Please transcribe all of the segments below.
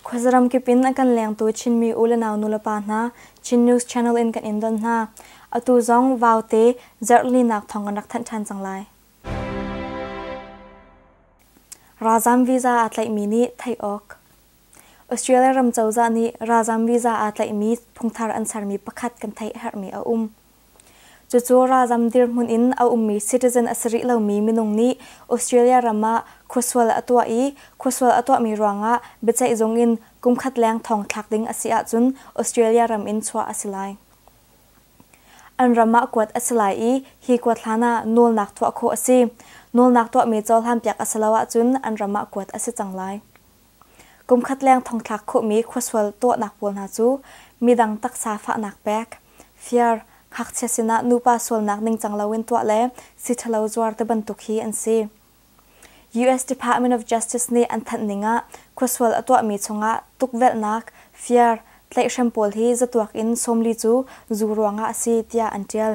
Khuazaram kip in a kan lengtu Chinmi u le nau nulepa hna Chin News Channel in kan in don hna. Atu zong vaute zarhlinak thawng kan rak thanh ṭhan cang lai. Ralzam visa aa tlaihmi nih theih awk. Australia ram cozah nih ralzaam visa aa tlaihmi phungthar an sermi pakhat kan theih a herhmi a um. Cucu ralzaam dirhmun in a ummi citizen a si rih lomi minung nih Australia ram ah khuasual a tuah i khuasual a tuahmi ruangah biaceihzung in kumkhat leng thong thlak ding a si ahcun Australia ram in chuah a si lai. An ram ah kuat a si lai i hi kuat hlanah nawlnak tuah khawh a si. Nawlnak tuahmi cohlan piak a si lo ahcun an ram ah kuat a si cang lai. Kumkhat leng thongthlak khawhmi khuasual tuahnak pawl hna cu midang taksa fahnak pek, fir, ngakchia sinah nupa sualnak ningcang loin tuah le si ṭhalo zuar te bantuk hi an si. US Department of Justice nih an thanh ning ah khuasual a tuahmi chungah tukvelhnak, fir, tlaihhrem pawl hi zatuak in sawmli cu zu ruangah a si tiah an ṭial.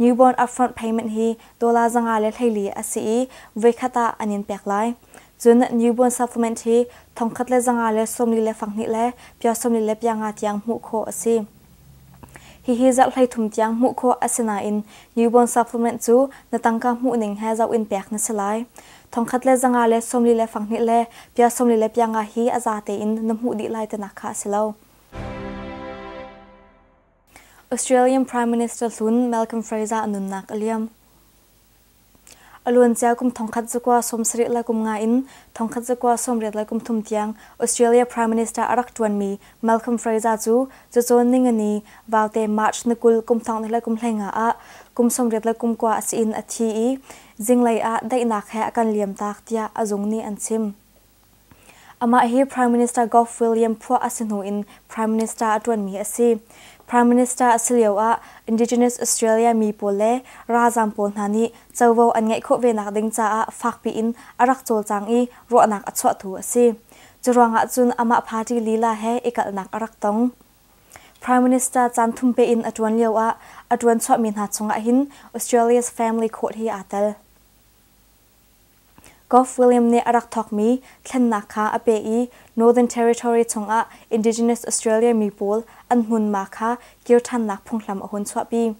Newborn upfront payment hi dollar zanga le hleili a si i voikhat ah an in pek lai. Cun newborn supplement hi thongkhat le zanga le sawmli le fanghnih le pia sawmli le pianga tiang hmuh khawh a si. Hihi zarh hleithum tiang hmuh khawh a si nain newborn supplement cu na tangka hmuh ning he zoh in pek na si lai. Thongkhat le zanga le sawmli le fanghnih le pia sawmli le pianga hi a za tein na hmuh dih lai tinak kha a si lo. Australian Prime Minister hlun Malcolm Fraser a nunnak a liam. A luancia kum thongkhat zakua sawmsarih le kum nga in thongkhat zakua sawmriat le kum thum tiang Australia Prime Minister a rak ṭuanmi Malcolm Fraser cu cacawn ningani vaute March ni kul kum thong le kum hleinga ah kum sawmriat le kum kua a si in a thi i zinglei ah daihnak he a kan liamtak tiah a zung nih an chim. Amah hi Prime Minister Gough William phuah a si hnu in Prime Minister a ṭuanmi a si. Prime Minister a si lioah Indigenous Australia mi pawl le ralzaam pawl hna nih covo an ngeih khawh ve nakding caah fakpi in a rak cawlcang i ruahnak a chuahtu a si. Curuangah cun amah party lila he i kalhnak a rak tong. Prime Minister caan thumpe in a ṭuan lioah a ṭuan chuahmi hna chungah hin Australia's Family Court hi aa tel. Gough William nih a rak thawkmi thlennak kha a peh i Northern Territory chungah Indigenous Australia mi pawl an hmunma kha kir ṭhannak phunghram a hun chuahpi.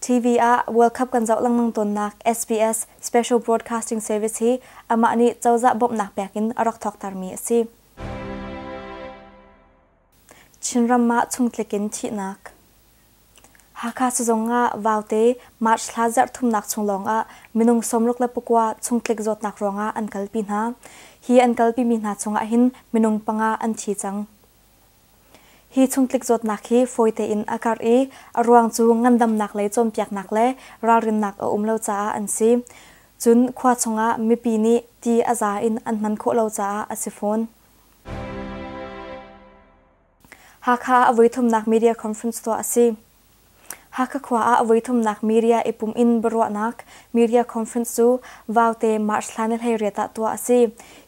TV ah World Cup kan zoh lengmang tawnnak SBS Special Broadcasting Service hi amah nih cozah bawmhnak pek in a rak thawktermi a si. Chinram ah chungtlik in thihnak. Hakha sizung ah Vaute March thla zarhthumnak chung lawngah minung sawmruk le pakua chungtlik zawtnak ruangah an kalpi hna. Hi an kalpimi hna chungah hin minung panga an thi cang. Hi chungtlik zawtnak hi fawite in a karh i a ruang cu ngandamnak lei cawnpiaknak le ralrinnak a um lo caah an si. Cun khua chungah mipi nih ti a za in an hman khawh lo caah a si fawn. Hakha a voithumnak media conference tuah a si. Hakha khua ah a voithumnak media i pum in biaruahnak media conference cu vaute March thla ni hleiriat ah tuah a si.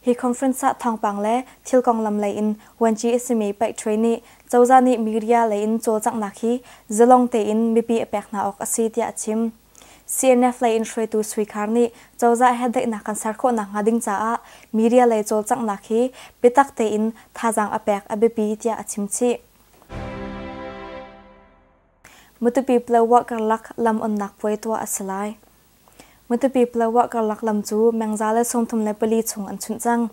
Hi conference ah thawngpang le thil konglam lei in Wanji Isimi Paih Ṭhui nih cozah nih media lei in cawlcanghnak hi zalong tein mipi a pek hna awk a si tiah a chim. CNF lei in hruaitu suikhar nih cozah he daihnak kan ser khawh nakhnga ding caah media lei cawlcanghnak hi biatak tein thazaang a pek a biapi tiah a chim chih. Matupi Plowa karlak lam onnak puai tuah a si lai. Matupi Plowa karlak lam cu mengza le sungthum le pali chung an chunh cang.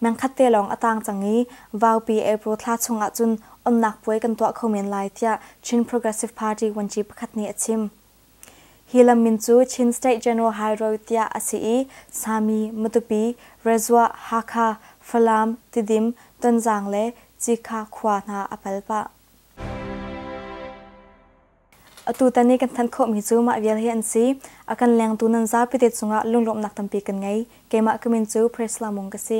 Mengkhat te lawng a tang cang i Vaupi April thla chung ahcun onnak puai kan tuah kho men lai tiah Chin Progressive Party vuanci pakhat nih a chim. Hi lam min cu Chin State General High Road tiah a si i Sami, Matupi, Rezua, Hakha, Falam, Tidim, Tonzang le Cikha khua hna a pal pah. Atutan i kan thanh khawhmi cu mah vial hi an si. A kan lengtu nan zapi te cungah lunglawmhnak tampi kan ngei. Keimah ka min cu Priscilla Mung ka si.